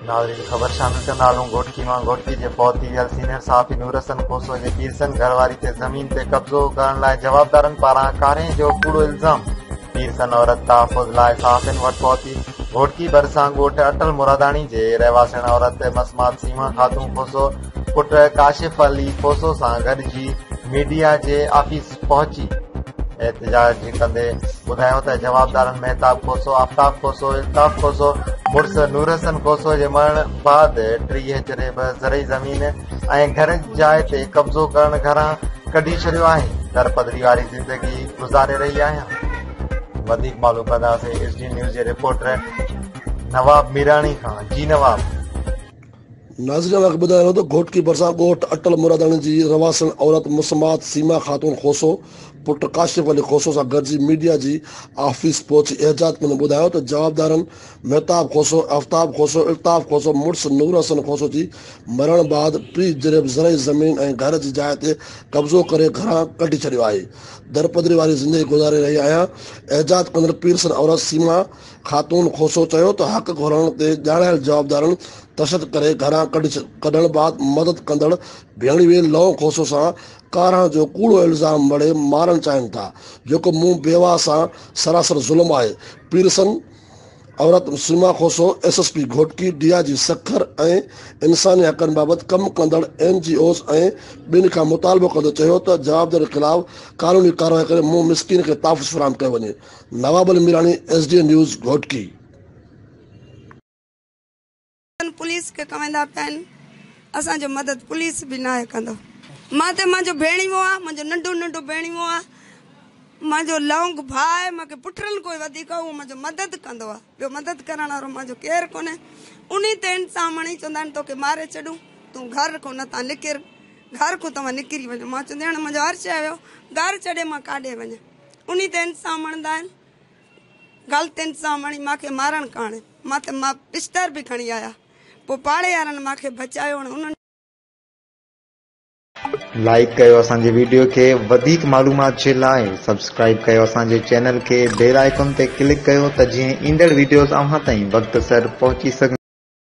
ناظرين خبر شامل ڪندا هلون گهوٽڪي مان گهوٽڪي جي فوت ٿي ويل سينيئر صحافي نور حسن کوسو جي پيرسن گهر واري تي زمين تي قبضو ڪرڻ لاء جوابدارن پاران ڪارينء جو ڪوڙو الزام پيرسن عورت تحفظ لاء صحافين وٽ پهتي گهوٽڪي ڀرسان ڳوٺ اٽل مراداڻي جي رهواسيڻ عورت مسمات سيما خاتون کوسو پٽ ڪاشف علي کوسو سان گڏجي ميڊيا جي آفيس پهچي احتجاج ڪندي ٻڌايو ته جوابدارن مهتاب کوسو، آفتاب کوسو، الطاف کوسو مڙس نورحسن کوسو جي مرڻ بعد ٽيهه جريب زرعي زمين ۽ گهر جاء تي قبضو ڪرڻ گهران ڪڍي ڇڏيو آهي، در پدري واري زندگي گذاري رهي آهيان. وڌيڪ معلوم ڪنداسين ايس ڊي نيوز جي رپورٽر نواب ميراڻي کان جي نواب. ناظرين اوهان کي ٻڌايان ٿو ته گهوٽڪي ڀرسان ڳوٺ اٽل مراداڻي جي رهواسڻ عورت مسمات سيما خاتون کوسو پٽ ڪاشف علي کوسو سان گڏجي ميڊيا جي آفيس پهچي احجاج ڪندي ٻڌايو ته جوابدارن مهتاب کوسو، آفتاب کوسو، الطاف کوسو مڙس نور حسن کوسو جي مرڻ بعد ٽي جريب زرعي زمين ۽ گهر جي جاء تي قبضو ڪري گهران ڪڍي ڇڏيو آهي، درپدري واري زندگي گذاري رهي آهيان، احجاج ڪندڙ پيرسن عورت سيما خاتون کوسو چيو ته حق گهرڻ تي ڄاڻايل جوابدارن تشدد ڪري گهران ڪڍڻ بعد مدد ڪندڙ ڀيڻوي لئون کوسو سان ڪارهڻ جو ڪوڙو الزام مڙهي مارڻ چاهين ٿا جيڪو مون بيواهه سان سراسر ظلم آهي پيرسن عورت Seema Khoso S S P Ghotki D I G Sukkur ۽ انساني حقن بابت ڪم ڪندڙ اين جي اوز ۽ ٻين کان مطالبو ڪندي چيو ته جوابدارن خلاف قانوني ڪارروائي ڪري مون مسڪين کي تحفظ فراهم ڪيو وڃي Nawab Ali Mirani S D N news Ghotki. ڪن پوليس کي ڪويندا پيا آهن اسان جو مدد پوليس به ناهي ڪندو مان تي مان جو ڀيڻيوو آ مان جو ننڊو ننڊو ڀيڻيوو آ مان جو لونگ ڀاء آهي مان کي پٽرن ڪوئي وڌيڪ اهو مان جو مدد ڪندو آ ٻيو مدد ڪرڻ وارو مان جو ڪير ڪونهي انهي تي انسان مڻي چوندا آهن توکي ماري ڇڏون تون گهر کون نتان نڪر گهر کون توهان نڪري وڃو مان چوندي هاڻي مان جو هر شي ويو گهر ڇڏي مان ڪاڏي وڃان انھي تي انصاف مڻندا آھن غلط انصاف مڻي مان کي مارڻ ڪاڻ مان تي مان پشتر به کڻي آيا پوء پاڙي وارن مان کي بچايو ۽ انھن لائيڪ ڪيو اسان جي ويڊيو کي وڌيڪ معلومات جي لاء سبسڪرائيب ڪيو اسان جي چينل کي بيل آئيڪون تي ڪلڪ ڪيو ته جيئن ايندڙ ويڊيوز اوھان تائين وقت سر پهچي سگهن.